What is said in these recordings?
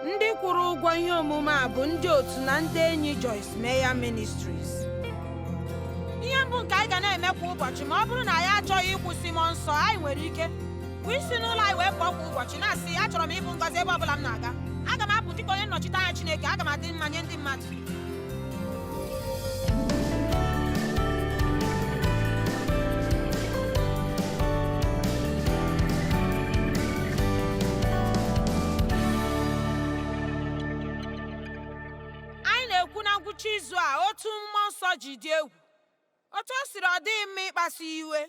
ndị kwụrụ ụgwọ ihe omume a bụ ndị otu na ndị enyi Joyce Meyer Ministries ihe mbụ nke anyị ga na-eme kwa ụbọchị ma ọ bụrụ na anyị achọghị ịkwụsị mmụọ nsọ anyị nwere ike bụ isi n'ụlọ anyị wee pụọ kwa ụbọchị na-asị achọrọ m ịbụ ngọzi ebe ọ bụla m na-aga aga m apụ dịka onye nnọchite anya Chineke aga m adị mma nye ndị mmadụ mmụọ nsọ ji dị egwu otu o siri ọ dịghị mma ịkpasu iwe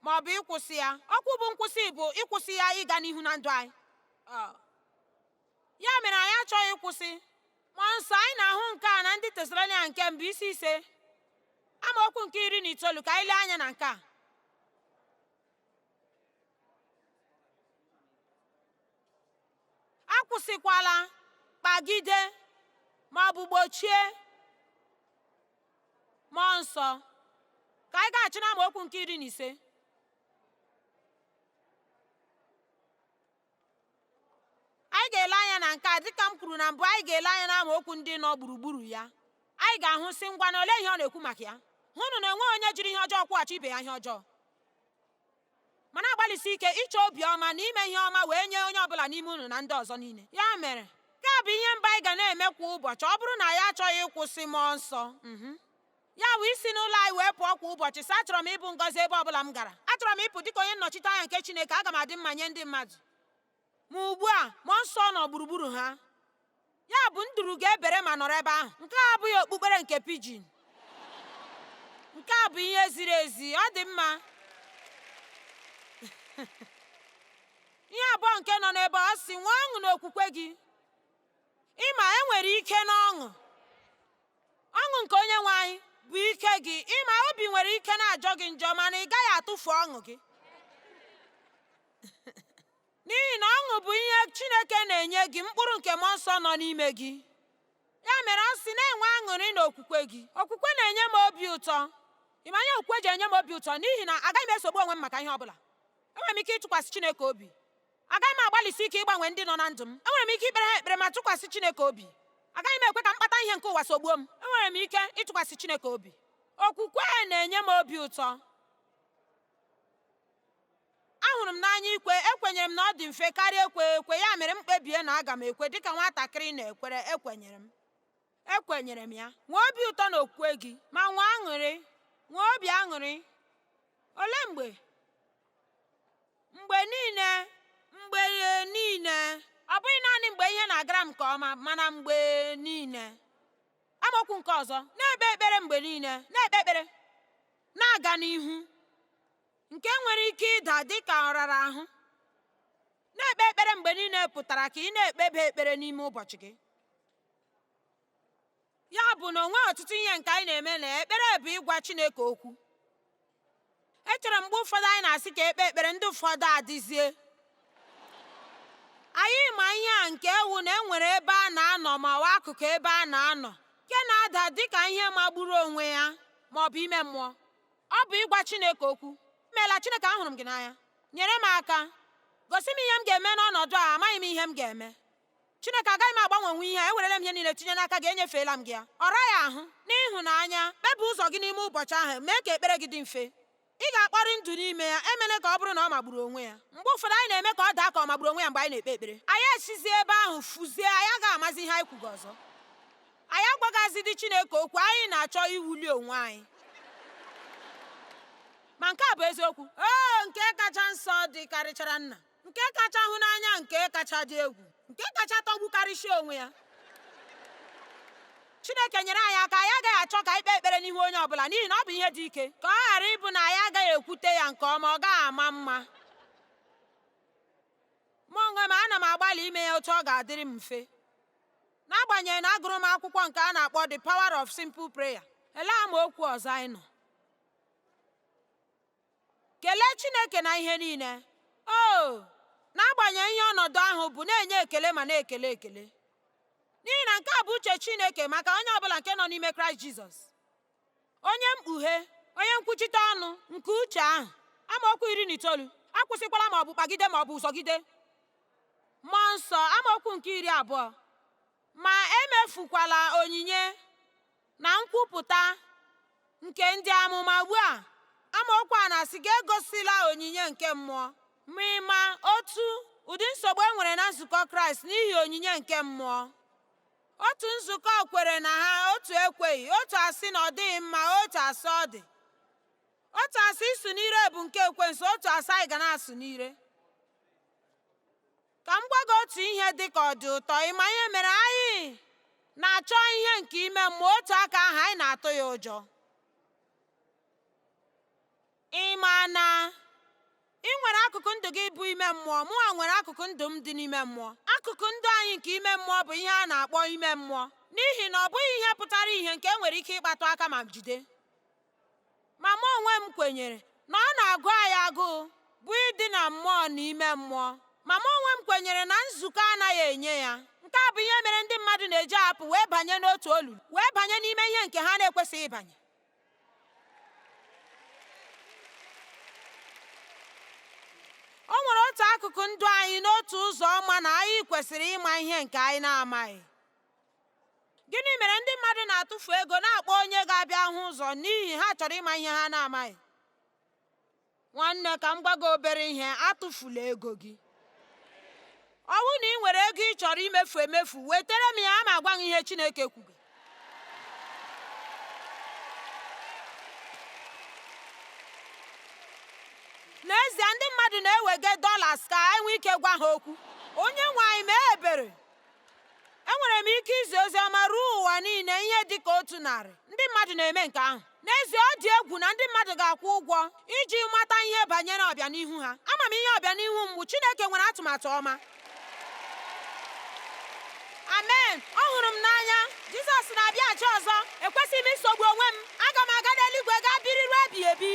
ma ọ bụ ịkwụsị ya okwu bụ nkwụsị bụ ịkwụsị ya ịga n'ihu na ndụ anyị ya mere anyị achọghị ịkwụsị mmụọ nsọ anyị na-ahụ nke a na ndị tesalonia nke mbụ isi ise amaokwu nke iri na itoolu ka anyị lee anya na nke a akwụsịkwala kpagide ma ọ bụ gbochie mmụọ nsọ ka anyị gaghachi na amaokwu nke iri na ise anyị ga-ele anya na nke a dịka m kwuru na mbụ anyị ga-ele anya na amaokwu ndị nọ gburugburu ya anyị ga-ahụ sị ngwanụ olee ihe ọ na-ekwu maka ya hụnụ na enweghị onye jiri ihe ọjọọ kwụghachi ibe ya ihe ọjọọ ma na-agbalịsi ike ịchọ obiọma na ime ihe ọma wee nye onye ọbụla n'ime unu na ndị ọzọ niile ya mere nke a bụ ihe mbụ anyị ga na-eme kwa ụbọchị ọ bụrụ na anyị achọghị ịkwụsị mmụọ nsọ mhm. ya bụ isi n'ụlọ anyị wee pụọ kwa ụbọchị sị achọrọ m ịbụ ngọzi ebe ọbụla m gara achọrọ m ịpụ dịka onye nnọchite anya nke Chineke aga m adị mma nye ndị mmadụ ma ugbu a mmụọ nsọ nọ gburugburu ha ya bụ nduru ga-ebere ma nọrọ ebe ahụ nke a abụghị okpukpere nke pigeon nke a bụ ihe ziri ezi ọ dị mma ihe abụọ nke nọ n'ebe ọ sị nwee ọṅụ n'okwukwe gị ịma enwere ike n'ọṅụ Ọṅụ nke Onyenwe anyị bụ ike gị. Ị ma obi nwere ike na-ajọ gị njọ mana ị gaghị atụfu ọṅụ gị. N'ihi na ọṅụ bụ ihe Chineke na-enye gị, mkpụrụ nke Mmụọ Nsọ nọ n'ime gị. Ya mere ọ sị na-enwe aṅụrị na okwukwe gị. Okwukwe na-enye m obi ụtọ. Ị ma ihe okwukwe ji enye m obi ụtọ? N'ihi na agaghị m esogbu onwe m maka ihe ọ bụla. Enwere m ike ịtụkwasị Chineke obi. Agaghị m agbalịsi ike ịgbanwe ndị nọ na ndụ m. Enwere m ike ikpere ha ekpere ma tụkwasị Chineke obi. Agaghị m ekwe ka mkpata ihe nke ụwa sogbuo m. Enwere m ike ịtụkwasị Chineke obi. Okwukwe na-enye m obi ụtọ. Ahụrụ m n'anya ikwe, ekwenyere m na ọ dị mfe karịa ekwe ekwe, ya mere m kpebie na aga m ekwe dịka nwatakịrị na-ekwere, ekwenyere m. ekwenyere m ya nwee obi ụtọ na okwukwe gị ma nwee aṅụrị nwee obi aṅụrị olee mgbe mgbe niile mgbe niile ọ bụghị naanị mgbe ihe na-agara m nke ọma mana mgbe niile amaokwu nke ọzọ na-ekpe ekpere mgbe niile na-ekpe ekpere na-aga n'ihu nke nwere ike ịda dị ka ọ rara ahụ na-ekpe ekpere mgbe niile pụtara ka ị na-ekpebe ekpere n'ime ụbọchị gị ya bụ na o nweghị ọtụtụ ihe nke anyị na-eme na ekpere bụ ịgwa Chineke okwu echere mgbe ụfọdụ anyị na-asị ka e kpee ekpere ndị ụfọdụ adịzie anyị ma ihe a nke ewu na enwere ebe a na-anọ ma ọ bụ akụkụ ebe a na-anọ nke na-ada dị ka ihe magburu onwe ya ma ọ bụ ime mmụọ ọ bụ ịgwa Chineke okwu imeela Chineke ahụrụ m gị n'anya nyere m aka gosi m ihe m ga-eme n'ọnọdụ a amaghị m ihe m ga-eme Chineke, agaghị m agbanwenwu ihe a, ewerela m ihe niile tinye n'aka gị, enyefeela m gị ya. Ọ raghị ahụ, n'ịhụnanya, kpebe ụzọ gị n'ime ụbọchị ahụ, mee ka ekpere gị dị mfe. Ị ga-akpọrị ndụ n'ime ya, emela ka ọ bụrụ na ọ magburu onwe ya. Mgbe ụfọdụ anyị na-eme ka ọ daa ka ọ magburu onwe ya mgbe anyị na-ekpe ekpere. Anyị esizie ebe ahụ fuzie, anyị agaghị amazi ihe anyị kwuga ọzọ. Anyị agwagaghịzidị Chineke okwu, anyị na-achọ iwuli onwe anyị. Ma nke a bụ eziokwu, O nke kacha nsọ dịkarịchara nna. nke kacha hụ n'anya nke kacha dị egwu nke kacha tọgbukarịsịa onwe ya chineke nyere anyị aka anyị agaghị achọ ka anyị kpee ekpere n'ihu onye ọbụla n'ihi na ọ bụ ihe dị ike ka ọ ghara ịbụ na anyị agaghị ekwute ya nke ọma ọ gaghị ama mma mụ onwe m ana m agbalị ime ya otu ọ ga-adịrị m mfe n'agbanyeghị na agụrụ m akwụkwọ nke a na-akpọ The Power of Simple Prayer elee amaokwu ọzọ anyị nọ Kelee Chineke na ihe niile. Oo, n'agbanyeghị ihe ọnọdụ ahụ bụ, na-enye ekele ma na-ekele ekele. N'ihi na nke a bụ uche Chineke maka onye ọ bụla nke nọ n'ime Kraịst Jizọs. Onye mkpughe, onye nkwuchite ọnụ nke uche ahụ, amaokwu iri na itoolu, akwụsịkwala ma ọ bụ kpagide ma ọ bụ zọgide. Mmụọ nsọ, amaokwu nke iri abụọ, ma emefukwala onyinye Na nkwupụta nke ndị amụma ugbu a, amaokwu a na-asị gị egosila onyinye nke mmụọ. Ma ị ma otu ụdị nsogbu e nwere na nzukọ Kraịst n'ihi onyinye nke mmụọ? Otu nzukọ kwere na ha, otu ekweghị, otu asị na ọ dịghị mma, otu asị ọ dị. Otu asị ịsụ n'ire bụ nke ekwensu, otu asị anyị ga na-asụ n'ire. Ka m gwa gị otu ihe dị ka ọ dị ụtọ ịma ihe mere anyị na-achọ ihe nke ime mmụọ otu aka ahụ anyị na-atụ ya ụjọ. Ị ma na ị nwere akụkụ ndụ gị bụ ime mmụọ, mụnwa nwere akụkụ ndụ m dị n'ime mmụọ. Akụkụ ndụ anyị nke ime mmụọ bụ ihe a na-akpọ ime mmụọ n'ihi na ọ bụghị ihe pụtara ihe nke e nwere ike ịkpatụ aka ma jide. Ma mụ onwe m kwenyere na ọ na-agụ anyị agụụ bụ ịdị na mmụọ na ime mmụọ. Ma mụ onwe m kwenyere na nzukọ anaghị enye ya. Nke a bụ ihe mere ndị mmadụ na-eji apụ wee banye n'otu olulu, wee banye n'ime ihe nke ha na-ekwesịghị ịbanye. O nwere otu akụkụ ndụ anyị n'otu ụzọ ọma na anyị kwesịrị ịma ihe nke anyị na-amaghị. Gịnị mere ndị mmadụ na-atụfu ego na-akpọ onye ga-abịa hụ ụzọ n'ihi ha chọrọ ịma ihe ha na-amaghị? Nwanne ka m gwa gị obere ihe, atụfula ego gị. Ọ bụrụ na ị nwere ego ị chọrọ imefu emefu, wetara m ya aga m agwa gị ihe Chineke kwuru. N'ezie ndị mmadụ na-ewega dollars ka anyị nwee ike gwa ha okwu. Onye nwe anyị mee ebere enwere m ike izi ozi ọma ruo ụwa niile ihe dị ka otu narị ndị mmadụ na-eme nke ahụ n'ezie ọ dị egwu na ndị mmadụ ga-akwụ ụgwọ iji mata ihe banyere ọbịanihu ha ama m ihe ọbịanihu m bụ Chineke nwere atụmatụ ọma amen ọ hụrụ m n'anya Jizọs na-abịaghachi ọzọ ekwesịghị m isogbu onwe m aga m aga n'eluigwe gaa biri ruo ebighị ebi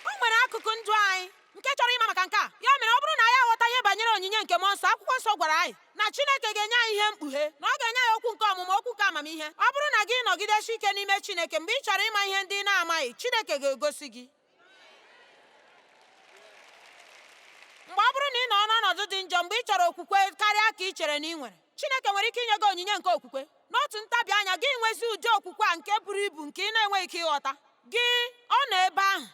o nwere akụkụ ndụ anyị nke chọrọ ịma maka nke a ya mere ọ bụrụ na anyị aghọta ihe banyere onyinye nke mmụọ nsọ akwụkwọ nsọ gwara anyị na chineke ga-enye anyị ihe mkpughe na ọ ga-enye anyị okwu nke ọmụma okwu nke amamihe ọ bụrụ na gị nọgidesi ike n'ime chineke mgbe ị chọrọ ịma ihe ndị ị na-amaghị chineke ga-egosi gị mgbe ọ bụrụ na ị nọ n'ọnọdụ dị njọ mgbe ị chọrọ okwukwe karịa ka ị chere na ị nwere Chineke nwere ike inye gị onyinye nke okwukwe. N'otu ntabi anya, gị nwezi ụdị okwukwe a nke buru ibu nke ị na-enweghị ike ịghọta. Gị ọ nọ ebe ahụ?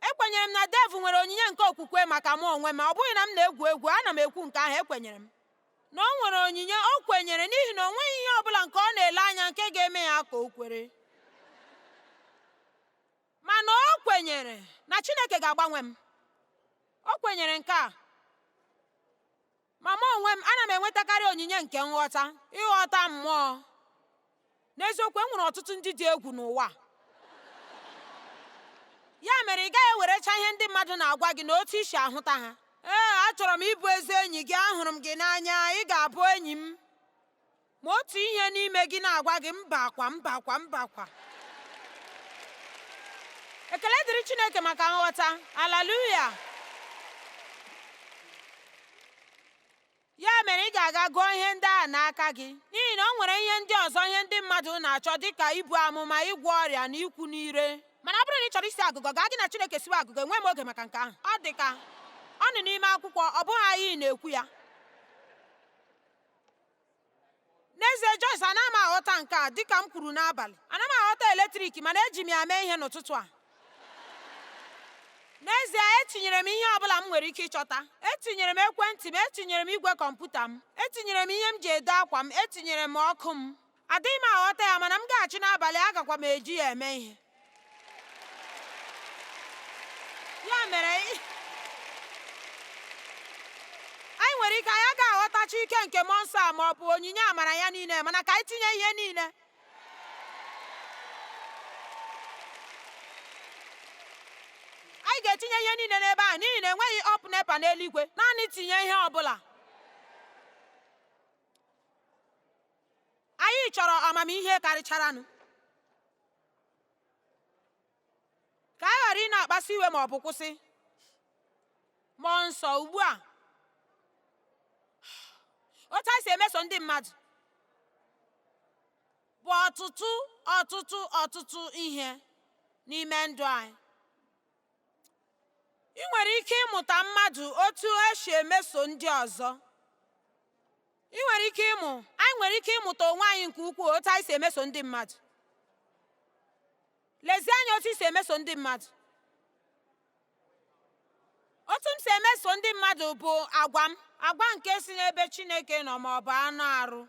Ekwenyere m na Dave nwere onyinye nke okwukwe maka mụ onwe m, ọ bụghị na m na-egwu egwu, ana m ekwu nke ahụ, ekwenyere m na o nwere onyinye, o kwenyere n'ihi na o nweghị ihe ọ bụla nke ọ na-ele anya nke ga-eme ya ka o kwere. Mana o kwenyere na Chineke ga-agbanwe m. O kwenyere nke a. Ma mụ onwe m ana m enwetakarị onyinye nke nghọta, ịghọta mmụọ. N'eziokwu, e nwere ọtụtụ ndị dị egwu n'ụwa. Ya mere ị gaghị ewerecha ihe ndị mmadụ na-agwa gị na otu i si ahụta ha. Ee, achọrọ m ịbụ ezi enyi gị, ahụrụ m gị n'anya, ị ga-abụ enyi m. ma otu ihe n'ime gị na-agwa gị mba kwa mba kwa mba kwa ekele dịrị chineke maka nghọta aleluya ya mere ị ga-aga gụọ ihe ndị a n'aka gị n'ihi na o nwere ihe ndị ọzọ ihe ndị mmadụ na-achọ dịka ibu amụma ịgwọ ọrịa na ikwu n'ire mana ọ bụrụ na ị chọrọ isi agụgọ gaa gị na chineke siwe agụgọ enweghị m oge maka nke ahụ ọ dị ka ọ nọ n'ime akwụkwọ ọ bụghị anyị na-ekwu ya N'ezie, Joyce, anaghị m aghọta nke a dịka m kwuru n'abalị. Anaghị m aghọta eletrik mana eji m ya mee ihe n'ụtụtụ a. N'ezie, etinyere m ihe ọ bụla m nwere ike ịchọta. Etinyere m ekwentị m, etinyere m igwe kọmputa m, etinyere m ihe m ji ede akwa m, etinyere m ọkụ m. Adịghị m aghọta ya mana m gaghachi n'abalị agakwa m eji ya eme ihe. ya mere anyị nwere ike anyị agaghị aghọtacha ike nke mmụọ nsọ a ma ọ bụ onyinye amara ya niile mana ka anyị tinye ihe niile anyị ga-etinye ihe niile n'ebe a n'ihi na enweghị up nepa n'eluigwe naanị tinye ihe ọ bụla anyị chọrọ amamihe karịcharanụ ka anyị ghara ịna-akpasu iwe ma ọ bụ kwụsị mmụọ nsọ ugbu a otu anyị si emeso ndị mmadụ bụ ọtụtụ ọtụtụ ọtụtụ ihe n'ime ndụ anyị i nwere ike ịmụta mmadụ otu esi emeso ndị ọzọ i nwere ike ịmụ anyị nwere ike ịmụta onwe anyị nke ukwuu otu anyị si emeso ndị mmadụ lezie anya otu i si emeso ndị mmadụ otu m si emeso ndị mmadụ bụ agwa m agwa nke si n'ebe Chineke nọ ma ọ bụ anụ arụ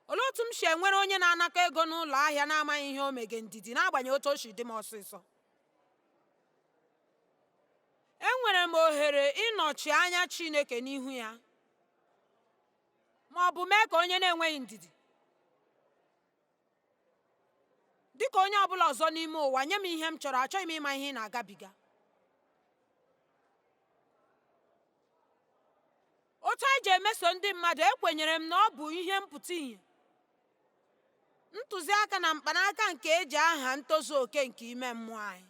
olee otu m si enwere onye na-anakọ ego n'ụlọ ahịa na-amaghị ihe o mege ndidi n'agbanyeghị otu o si dị m ọsịsọ enwere m ohere ịnọchi anya Chineke n'ihu ya ma ọ bụ mee ka onye na-enweghị ndidi dị ka onye ọbụla ọzọ n'ime ụwa nye m ihe m chọrọ achọghị m ịma ihe ị na-agabiga otu anyị ji emeso ndị mmadụ ekwenyere m na ọ bụ ihe mpụta ìhè ntụziaka na mkpanaka nke eji aha ntozu oke nke ime mmụọ anyị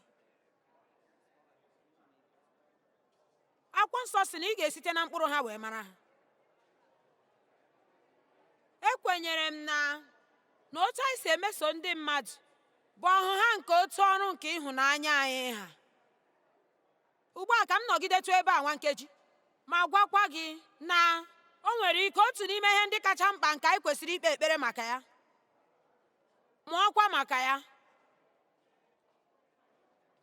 akwụkwọ nsọ sị na ị ga-esite na mkpụrụ ha wee mara ha ekwenyere m na na otu anyị si emeso ndị mmadụ bụ ọhụha nke otu ọrụ nke ịhụnanya anyị ha ugbu a ka m nọgidetụ ebe a nwa nkeji ma gwakwa gị na o nwere ike otu n'ime ihe ndị kacha mkpa nke anyị kwesịrị ikpe ekpere maka ya mụọkwa maka ya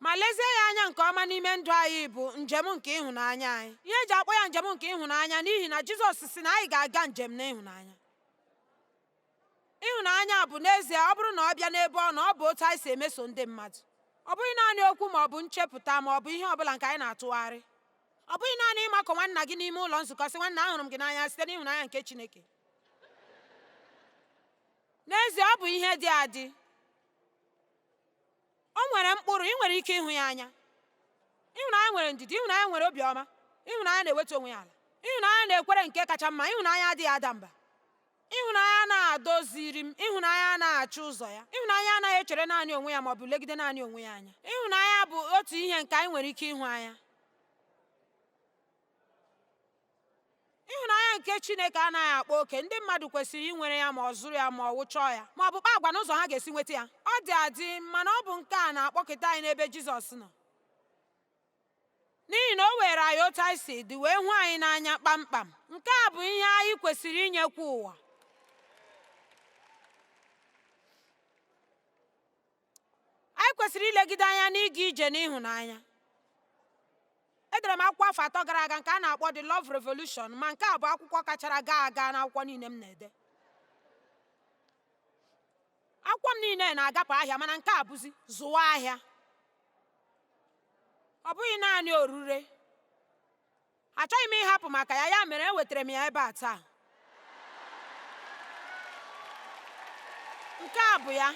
ma lezie ya anya nke ọma n'ime ndụ anyị bụ njem nke ịhụnanya anyị ihe eji akpọ ya njem nke ịhụnanya n'ihi na Jizọs sị na anyị ga-aga njem n'ịhụnanya ịhụnanya bụ n'ezie ọ bụrụ na ọ bịa n'ebe ọ nọ ọ bụ otu anyị si emeso ndị mmadụ ọ bụghị naanị okwu ma ọ bụ nchepụta ma ọ bụ ihe ọbụla nke anyị na-atụgharị ọ bụghị naanị ịmakọ nwanna gị n'ime ụlọ nzukọ sị nwanna ahụrụ m gị n'anya site n'ịhụnanya nke Chineke n'ezie ọ bụ ihe dị adị O nwere mkpụrụ, ị nwere ike ịhụ ya anya. Ịhụnanya nwere ndidi, ịhụnanya nwere obiọma, ịhụnanya na-ewetu onwe ya ala, ịhụnanya na-ekwere nke kacha mma, ịhụnanya adịghị ada mba. Ịhụnanya anaghị adoziri m, ịhụnanya anaghị achọ ụzọ ya, ịhụnanya anaghị echere naanị onwe ya ma ọ bụ legide naanị onwe ya anya. Ịhụnanya bụ otu ihe nke anyị nwere ike ịhụ anya. ịhụnanya nke chineke anaghị akpa oke ndị mmadụ kwesịrị inwere ya ma ọ zụrụ ya ma ọ wụ chọọ ya ma ọ bụ kpaa agwa n'ụzọ ha ga-esi nweta ya ọ dị adị mana ọ bụ nke a na-akpọkete anyị n'ebe jizọs nọ n'ihi na o were anyị otu anyị si dị wee hụ anyị n'anya kpamkpam nke a bụ ihe anyị kwesịrị inyekwa ụwa anyị kwesịrị ilegide anya n'ịga ije n'ịhụnanya edere m akwụkwọ afọ atọ gara aga nke a na-akpọ The Love Revolution ma nke a bụ akwụkwọ kachara gaa aga n'akwụkwọ niile m na-ede akwụkwọ m niile na-agapụ ahịa mana nke a bụzi zụwa ahịa ọ bụghị naanị orure achọghị m ịhapụ maka ya ya mere ewetara m ya ebe a taa nke a bụ ya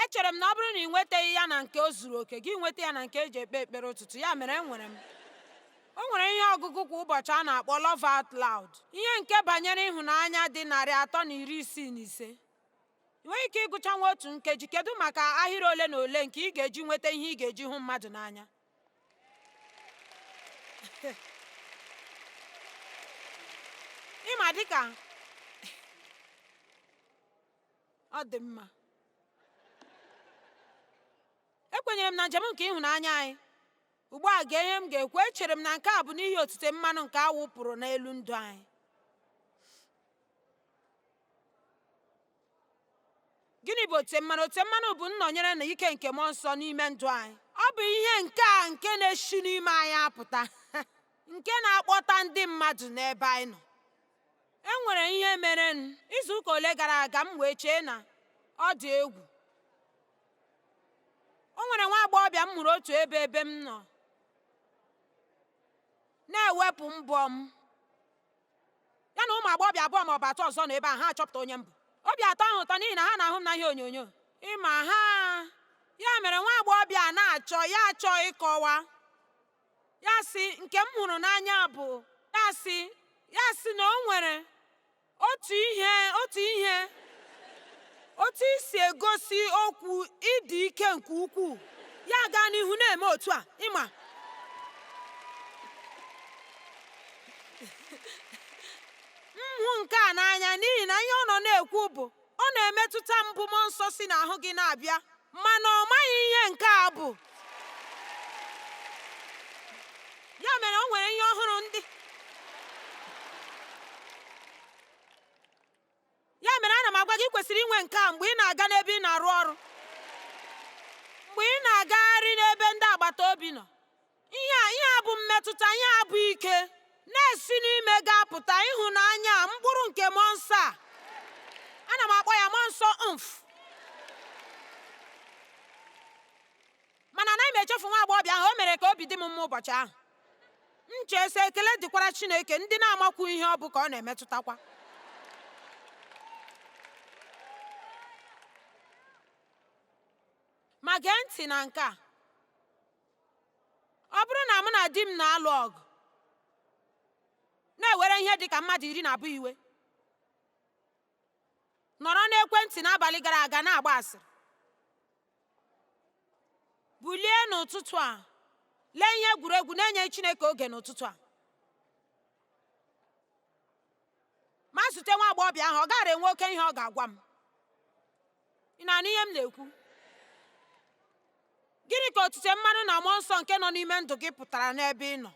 echere m na ọ bụrụ na ị nwetaghị ya na nke o zuru oke gị nweta ya na nke eji ekpe ekpere ụtụtụ ya mere enwere m o nwere ihe ọgụgụ kwa ụbọchị a na-akpọ Love Out Loud ihe nke banyere ịhụnanya dị narị atọ na iri isii na ise I nweghị ike ịgụcha nwa otu nkeji kedu maka ahịrị ole na ole nke ị ga-eji nweta ihe ị ga-eji hụ mmadụ n'anya ịma dịka ọ dị mma ekwenyere m na njem nke ịhụnanya anyị ugbu a gee ihe m ga-ekwu echere m na nke a bụ n'ihi otite mmanụ nke a wụpụrụ n'elu ndụ anyị gịnị bụ otite mmanụ otite mmanụ bụ nnọnyere na ike nke mmụọ nsọ n'ime ndụ anyị ọ bụ ihe nke a nke na-esi n'ime anyị apụta nke na-akpọta ndị mmadụ n'ebe anyị nọ e nwere ihe merenụ izu ụka ole gara aga m wee chee na ọ dị egwu o nwere nwa agbọghọbịa m hụrụ otu ebe ebe m nọ na-ewepụ mbọ m ya na ụmụ agbọghọbịa abụọ ma ọ bụ atọ ọzọ nọ ebe a ha achọpụta onye m bụ obi atọ ha ụtọ n'ihi na ha na-ahụ m na ihe onyonyo ị ma ha ya mere nwa agbọghọbịa a na-achọ ya achọ ịkọwa ya sị nke m hụrụ n'anya bụ ya sị ya sị na o nwere otu ihe otu ihe otu i si egosi okwu ịdị ike nke ukwuu ya gaa n'ihu na-eme otu a ị ma m hụ nke a n'anya n'ihi na ihe ọ nọ na-ekwu bụ ọ na-emetụta m bụ mmụọ nsọ si n'ahụ gị na-abịa mana ọ maghị ihe nke a bụ ya mere o nwere ihe ọ hụrụ ndị ya mere ana m agwa gị i kwesịrị inwe nke a mgbe ị na-aga n'ebe ị na-arụ ọrụ mgbe ị na-agagharị n'ebe ndị agbata obi nọ ihe a ihe a bụ mmetụta ihe a bụ ike na-esi n'ime gị apụta ịhụnanya mkpụrụ nke mmụọ nsọ a ana m akpọ ya mmụọ nsọ mf mana anaghị m echefu nwa agbọghọbịa ahụ o mere ka obi dị m mma ụbọchị ahụ m chee sị ekele dịkwara chineke ndị na-amakwu ihe ọ bụ ka ọ na-emetụtakwa ma gee ntị na nke a ọ bụrụ na mụ na di m na-alụ ọgụ na-ewere ihe dị ka mmadụ iri na abụọ iwe nọrọ n'ekwentị n'abalị gara aga na-agba asịrị bulie n'ụtụtụ a lee ihe egwuregwu na-enyeghị chineke oge n'ụtụtụ a ma zute nwa agbọghọbịa ahụ ọ gaara enwe oke ihe ọ ga-agwa m ị na-anụ ihe m na-ekwu gịnị ka otite mmanụ na mmụọ nsọ nke nọ n'ime ndụ gị pụtara n'ebe ị nọ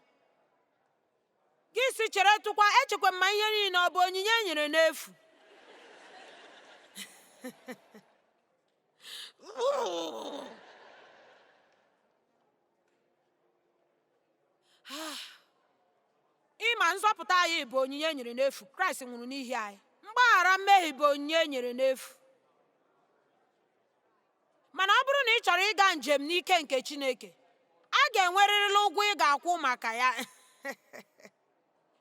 gị sị cheretụkwa echekwa m ma ihe niile ọ bụ onyinye e nyere n'efu ị ma nzọpụta anyị bụ onyinye e nyere n'efu kraịst nwụrụ n'ihi anyị mgbaghara mmehie bụ onyinye e nyere n'efu mana ọ bụrụ na ị chọrọ ịga njem n'ike nke chineke a ga-enwerịrịla ụgwọ ị ga-akwụ maka ya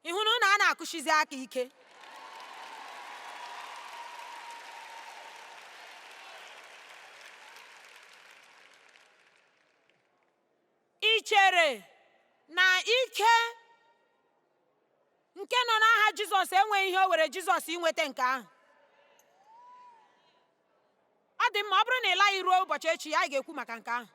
ị hụrụ na a na-akụsizi aka ike ị chere na ike nke nọ n'aha jizọs enweghị ihe o were jizọs inweta nke ahụ ọ dị mma ọ bụrụ na ị laghị ruo ụbọchị echi anyị ga-ekwu maka nke ahụ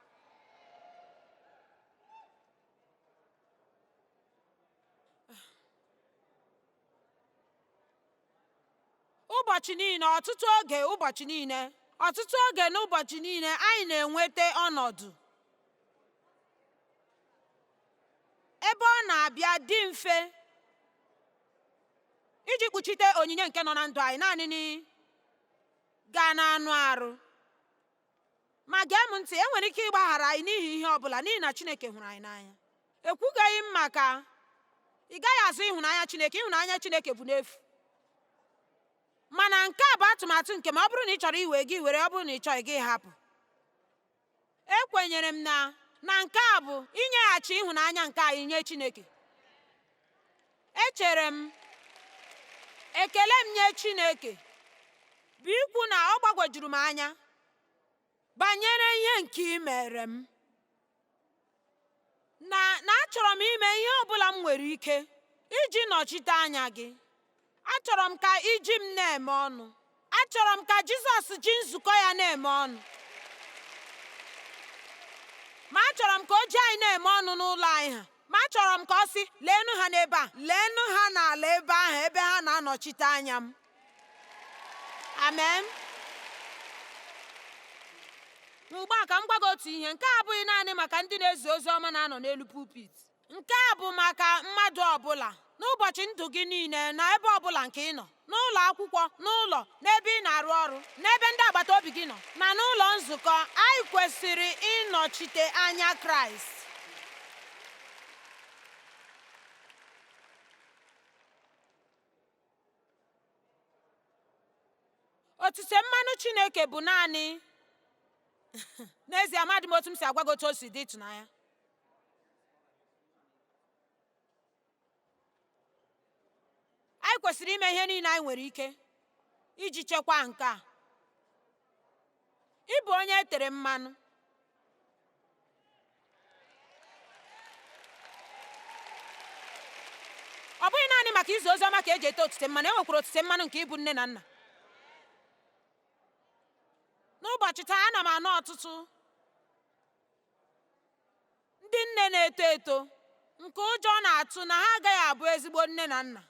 ụbọchị niile ọtụtụ oge ụbọchị niile ọtụtụ oge n'ụbọchị niile anyị na-enweta ọnọdụ ebe ọ na-abịa dị mfe iji kpuchite onyinye nke nọ na ndụ anyị naanị gaa n'anụ arụ ma gee m ntị enwere ike ịgbaghara anyị n'ihi ihe ọ bụla n'ihi na Chineke hụrụ anyị n'anya ekwugaghị m maka ị gaghị azụ ịhụnanya Chineke ịhụnanya Chineke bụ n'efu mana nke a bụ atụmatụ nke m ọ bụrụ na ị chọrọ iwe gị were ọ bụrụ na ị chọghị gị hapụ ekwenyere m na na nke a bụ inyeghachi ịhụnanya nke anyị nye Chineke Echere m, ekele m nye Chineke bụ ikwu na ọ gbagwojuru m anya banyere ihe nke i mere m, na achọrọ m ime ihe ọ bụla m nwere ike iji nọchite anya gị. Achọrọ m ka i ji m na-eme ọnụ. Achọrọ m ka Jizọs ji nzukọ ya na-eme ọnụ. Ma achọrọ m ka o ji anyị na-eme ọnụ n'ụlọ anyị ha. Ma achọrọ m ka ọ sị, leenụ ha n'ebe ahụ, leenụ ha n'ala ebe ahụ ebe ha na-anọchite anya m. Amen. Ugbu a ka m gwa gị otu ihe, nke a abụghị naanị maka ndị na-ezi ozi ọma na-anọ n'elu pulpit. Nke a bụ maka mmadụ ọbụla n'ụbọchị ndụ gị niile na ebe ọbụla nke ị nọ n'ụlọ akwụkwọ n'ụlọ n'ebe ị na-arụ ọrụ n'ebe ndị agbata obi gị nọ na n'ụlọ nzukọ anyị kwesịrị ịnọchite anya Kraịst otite mmanụ Chineke bụ naanị n'ezie amadị m otu m si agwa gị otu o si dị ịtụnanya anyị kwesịrị ime ihe niile anyị nwere ike iji chekwaa nke a ịbụ onye e tere mmanụ ọ bụghị naanị maka izi ozi ọma ka e ji ete otite mmanụ e nwekwara otite mmanụ nke ịbụ nne na nna n'ụbọchị taa ana m anụ ọtụtụ ndị nne na-eto eto nke ụjọ na-atụ na ha agaghị abụ ezigbo nne na nna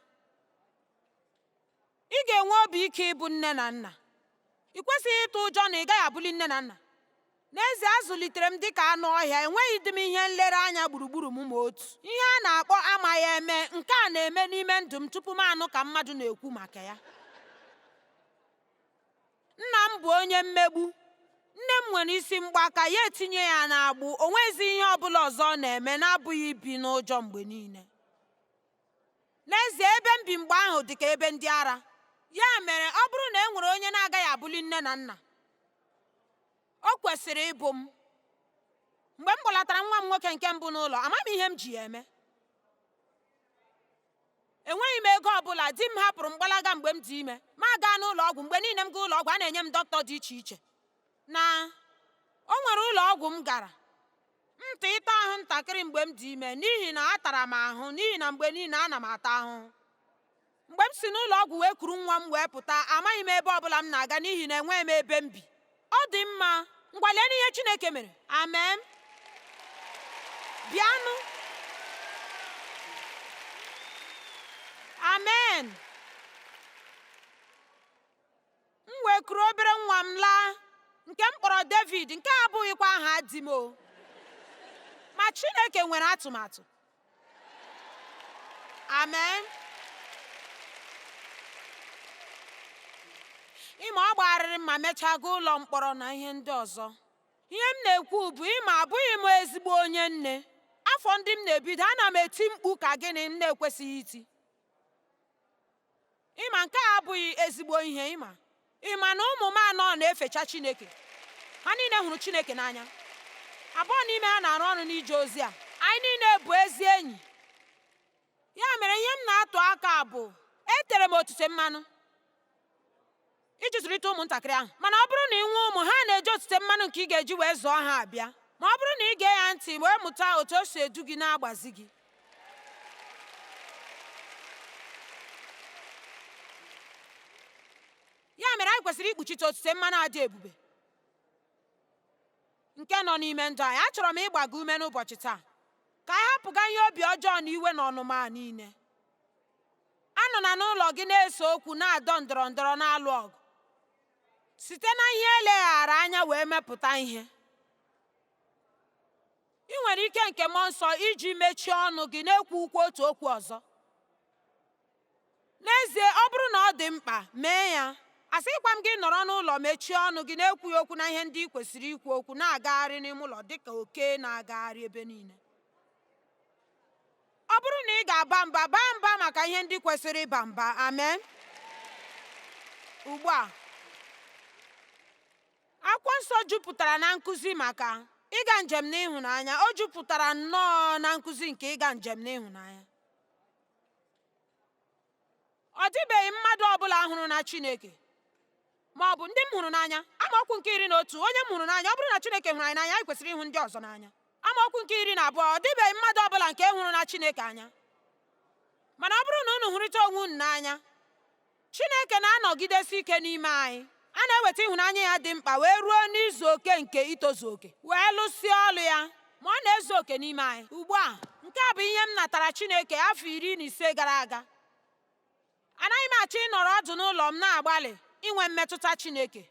Ị ga-enwe obi ike ịbụ nne na nna. Ị kwesịghị ịtụ ụjọ na ị gaghị abụli nne na nna. N'ezie, a zụlitere m dị ka anụ ọhịa, enweghịdị m ihe nlereanya gburugburu m ma otu. Ihe a na-akpọ amaghị eme, nke a na-eme n'ime ndụ m tupu m anụ ka mmadụ na-ekwu maka ya. Nna m bụ onye mmegbu. Nne m nwere isi mgbaka, ya etinye ya n'agbụ, o nweghịzi ihe ọ bụla ọzọ ọ na-eme na-abụghị ibi n'ụjọ mgbe niile. N'ezie, ebe m bi mgbe ahụ dị ka ebe ndị ara. Ya mere, ọ bụrụ na e nwere onye na-agaghị abụli nne na nna, o kwesịrị ịbụ m. Mgbe m kpọlatara nwa m nwoke nke mbụ n'ụlọ, amaghị m ihe m ji ya eme. Enweghị m ego ọ bụla, di m hapụrụ m gbalaga mgbe m dị ime. Ma gaa n'ụlọ ọgwụ, mgbe niile m gaa ụlọ ọgwụ, a na-enye m dọkịta dị iche iche. na o nwere ụlọ ọgwụ m gara ntị ịta ahụ ntakịrị mgbe m dị ime n'ihi na atara m ahụ n'ihi na mgbe niile ana m ata ahụhụ mgbe m si n'ụlọ ọgwụ wee kuru nwa m wee pụta amaghị m ebe ọbụla m na-aga n'ihi na enweghị m ebe m bi ọ dị mma ngwa leenụ ihe Chineke mere amen bịanụ amen m wee kuru obere nwa m laa nke m kpọrọ David nke a abụghịkwa aha di m o ma Chineke nwere atụmatụ amen ị ma ọ gbagharịrị ma mechaa gaa ụlọ mkpọrọ na ihe ndị ọzọ ihe m na-ekwu bụ ị ma abụghị m ezigbo onye nne afọ ndị m na-ebido ana m eti mkpu ka gịnị m na-ekwesịghị iti ị ma nke a abụghị ezigbo ihe ị ma ị ma na ụmụ m anọ na-efecha Chineke ha niile hụrụ Chineke n'anya abụọ n'ime ha na-arụ ọrụ n'ije ozi a anyị niile bụ ezi enyi ya mere ihe m na-atụ aka bụ e tere m otite mmanụ iji zụlite ụmụntakịrị ahụ mana ọ bụrụ na i nwee ụmụ ha na-eji otite mmanụ nke ị ga-eji wee zụọ ha abịa ma ọ bụrụ na i gee ya ntị wee mụta otu o si edu gị na-agbazi gị ya mere anyị kwesịrị ikpuchite otite mmanụ a dị ebube nke nọ n'ime ndụ anyị achọrọ m ịgba gị ume n'ụbọchị taa ka anyị hapụga ihe obi ọjọọ na iwe na ọnụma niile anọla n'ụlọ gị na-ese okwu na-adọ ndọrọ ndọrọ na-alụ ọgụ site na ihe eleghara anya wee mepụta ihe ị nwere ike nke mmụọ nsọ iji mechie ọnụ gị na-ekwukwu otu okwu ọzọ n'ezie ọ bụrụ na ọ dị mkpa mee ya asịkwa m gị nọrọ n'ụlọ mechie ọnụ gị na-ekwughị okwu na ihe ndị ị kwesịrị ikwu okwu na-agagharị n'ime ụlọ dịka oke na-agagharị ebe niile ọ bụrụ na ị ga-aba mba baa mba maka ihe ndị kwesịrị ịba mba amen ugbu a akwụkwọ nsọ jupụtara na nkụzi maka ịga njem n'ịhụnanya o jupụtara nnọọ na nkụzi nke ịga njem n'ịhụnanya ọ dịbeghị mmadụ ọbụla hụrụna Chineke ma ọ bụ ndị m hụrụ n'anya amaokwu nke iri na otu onye m hụrụ n'anya ọ bụrụ na Chineke hụrụ anyị n'anya anyị kwesịrị ịhụ ndị ọzọ n'anya amaokwu nke iri na abụọ ọ dịbeghị mmadụ ọbụla nke hụrụna Chineke anya mana ọ bụrụ na unu hụrịta onwe unu n'anya Chineke na-anọgidesi ike n'ime anyị A na-eweta ịhụnanya ya dị mkpa wee ruo n'izu oke nke itozu oke, wee lụsịa ọlụ ya, ma ọ na-ezu oke n'ime anyị ugbu a. Nke a bụ ihe m natara Chineke afọ iri na ise gara aga. Anaghị m achọ ịnọrọ ọdụ n'ụlọ m na-agbalị inwe mmetụta Chineke.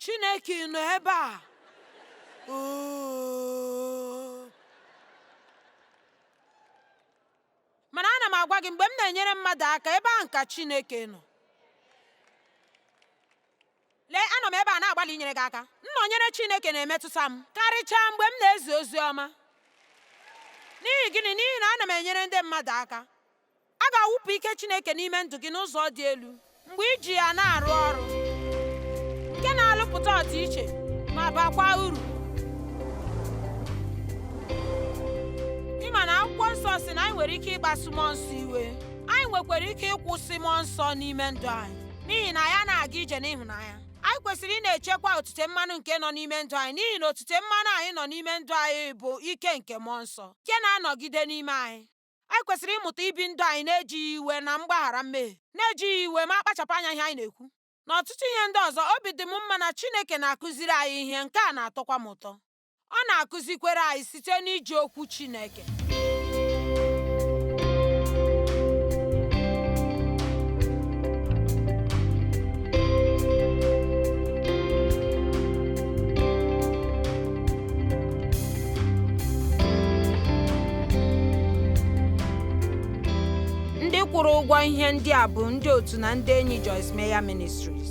chineke nọ ebe a mana ana m agwa gị mgbe m na-enyere mmadụ aka ebe ahụ ka chineke nọ lee anọ m ebe a na-agbalị inyere gị aka nnọnyere chineke na-emetụta m karịchaa mgbe m na-ezi ozi ọma n'ihi gịnị n'ihi na ana m enyere ndị mmadụ aka A ga-awụpụ ike Chineke n'ime ndụ gị n'ụzọ dị elu mgbe i ji ya na-arụ ọrụ nke na-alụpụta ọdịiche ma bakwa uru. Ị ma na akwụkwọ nsọ sị na anyị nwere ike ịkpasu mmụọ nsọ iwe anyị nwekwara ike ịkwụsị mmụọ nsọ n'ime ndụ anyị n'ihi na ya na-aga ije n'ịhụnanya anyị kwesịrị ịna-echekwa otute mmanụ nke nọ n'ime ndụ anyị n'ihi na otute mmanụ anyị nọ n'ime ndụ anyị bụ ike nke mmụọ nsọ nke na-anọgide n'ime anyị anyị kwesịrị ịmụta ibi ndụ anyị na-ejighị iwe na mgbaghara mmehie na-ejighị iwe ma akpachapụ anya ihe anyị na-ekwu na ọtụtụ ihe ndị ọzọ obi dị m mma na Chineke na-akụziri anyị ihe nke a na-atọkwa m ụtọ ọ na-akụzikwara anyị site n'iji okwu Chineke ndị kwụrụ ụgwọ ihe ndị a bụ ndị otu na ndị enyi Joyce Meyer Ministries